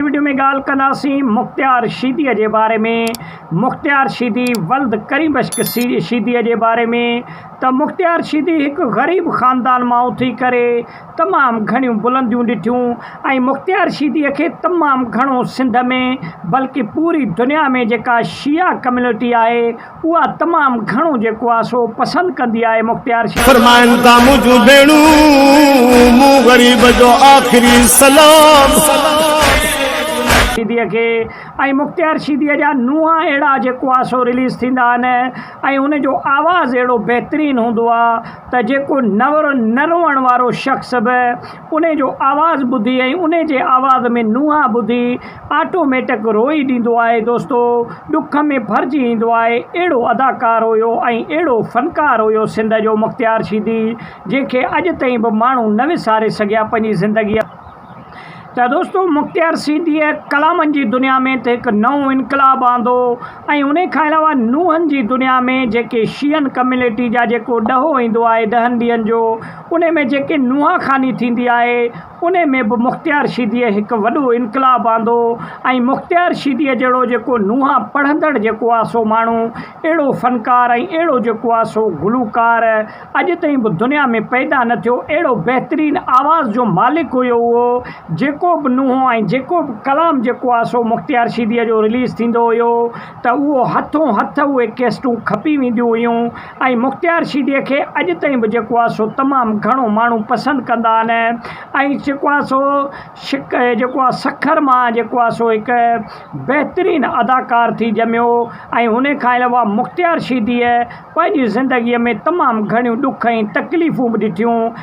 هن وڊيو ۾ ڳالهه ڪنداسين مختيار شيدي جي باري ۾ مختيار شيدي ولد ڪريم بخش شيدي جي باري ۾ ته مختيار شيدي هڪ غريب خاندان مان اٿي ڪري تمام گهڻيون بلنديون ڏٺيون ۽ مختيار شيدي کي تمام گهڻو سنڌ ۾ بلڪه پوري دنيا ۾ جيڪا شيعا ڪميونٽي آهي اها تمام گهڻو جيڪو آ سو پسند ڪندي آهي مختيار شاهه. فرمائن ٿا منهنجون ڀيڻون مون غريب جو آخري سلام. شيدي کي ۽ مختيار شيدي جا نونهان اهڙا جيڪو آ سو رليز ٿيندا آهن ۽ ان جو آواز اهڙو بهترين هوندو آ ته جيڪو نه روئڻ وارو شخص به انهي جو آواز ٻڌي ۽ انهي جي آواز ۾ نونهان ٻڌي آٽو ميٽڪ روئي ڏيندو آهي دوستو ڏک ۾ ڀرجي ايندو آهي اهڙو اداڪار هيو ۽ اهڙو فنڪار هيو سنڌ جو مختيار شيدي جنهن کي اڄ تائين به ماڻهو نه وساري سگهيا پنهنجي زندگي ته دوستو مختيار شيدي ڪلامن جي دنيا ۾ ته هڪ نئون انقلاب آندو ۽ انهي کان علاوه نونهن جي دنيا ۾ جيڪي شيعن ڪميونٽي جا جيڪو ڏهو ايندو آهي ڏهن ڏينهن جو انهي ۾ جيڪي نوحه خواني ٿيندي آهي، انهي ۾ به مختيار شيديء هڪ وڏو انقلاب آندو ۽ مختيار شيديء جهڙو جيڪو نوحه پڙهندڙ جيڪو آ سو ماڻهو اهڙو فنڪار ۽ اهڙو جيڪو آ سو گلوڪار اڄ تائين به دنيا ۾ پيدا نه ٿيو اهڙو بهترين آواز جو مالڪ هيو اهو جيڪو به نوحو ۽ جيڪو به ڪلام جيڪو آ سو مختيار شيديء جو رليز ٿيندو هيو ته اهو هٿون هٿ اهي ڪيسٽون کپي وينديون هيون ۽ مختيار سي ڊي کي اڄ تائين به جيڪو آهي سو تمام گهڻو ماڻهو پسند ڪندا آهن ۽ جيڪو آهي سو شڪ جيڪو آهي سکر مان جيڪو آهي سو هڪ بهترين اداڪار ٿي ڄميو ۽ هن کان علاوه مختيار سي ڊي پنهنجي زندگي ۾ تمام گهڻيون ڏک ۽ تڪليفون به ڏٺيون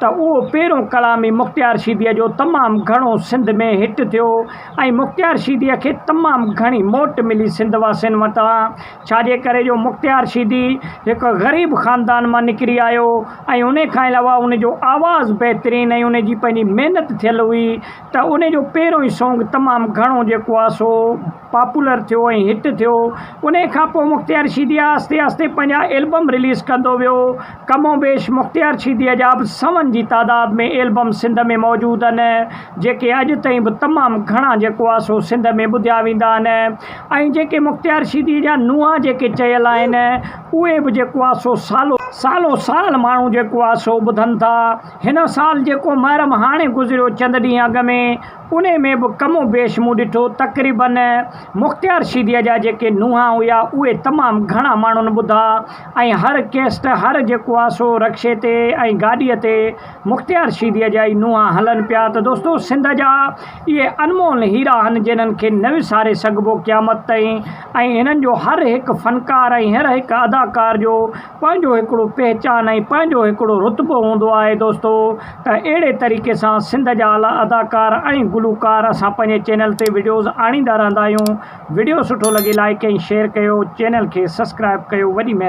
ته اهو پيرون ڪلام ئي مختيار شيديء جو تمام گهڻو سنڌ ۾ هٽ ٿيو ۽ مختيار شيديء کي تمام گهڻي موٽ ملي سنڌ واسين وٽان، ڇاجي ڪري جو مختيار شيدي هڪ غريب خاندان مان نڪري آيو ۽ ان کان علاوه ان جو آواز بهترين ۽ ان جي پنهنجي محنت ٿيل هئي ته ان جو پيرون ئي سونگ تمام گهڻو جيڪو آهي سو پاپولر ٿيو ۽ هٽ ٿيو انهي کان پوء مختيار شيدي آهستي آهستي پنهنجا البم رليز ڪندو ويو ڪم و بيش مختيار شيدي جا به سون جي تعداد ۾ البم سنڌ ۾ موجود ان جيڪي اڄ تائين به تمام گهڻا جيڪو آهي سو سنڌ ۾ ٻڌيا ويندا آهن ۽ جيڪي مختيار شيدي جا نونهان جيڪي چيل آهن اهي به جيڪو آهي سو سالو سالو سال ماڻهو جيڪو آهي سو ٻڌن ٿا هن سال جيڪو محرم هاڻي گذريو چند ڏينهن اڳ ۾ انهي ۾ به ڪم و بيش مون ڏٺو تقريباً مختيار شيديء جا جيڪي نونهان هيا اهي تمام گهڻا ماڻهن ٻڌا ۽ هر ڪيسٽ هر جيڪو آ سو رڪشي تي ۽ گاڏيء تي مختيار شيديء جا ئي نونهان هلن پيا ته دوستو سنڌ جا اهي انمول هيرا هن جنهن کي نه وساري سگهبو قيامت تائين ۽ هنن جو هر هڪ فنڪار ۽ هر هڪ اداڪار جو پنهنجو هڪڙو پهچان ۽ پنهنجو هڪڙو رتبو هوندو آهي دوستو ته اهڙي طريقي سان سنڌ جا اعليٰ اداڪار ۽ گلوڪار اسان پنهنجي چينل تي وڊيوز آڻيندا رهندا آهيون وڊيو سٺو لڳي لائيڪ ۽ شيئر ڪيو چينل کي سسڪرائب ڪيو وڏي مهرباني.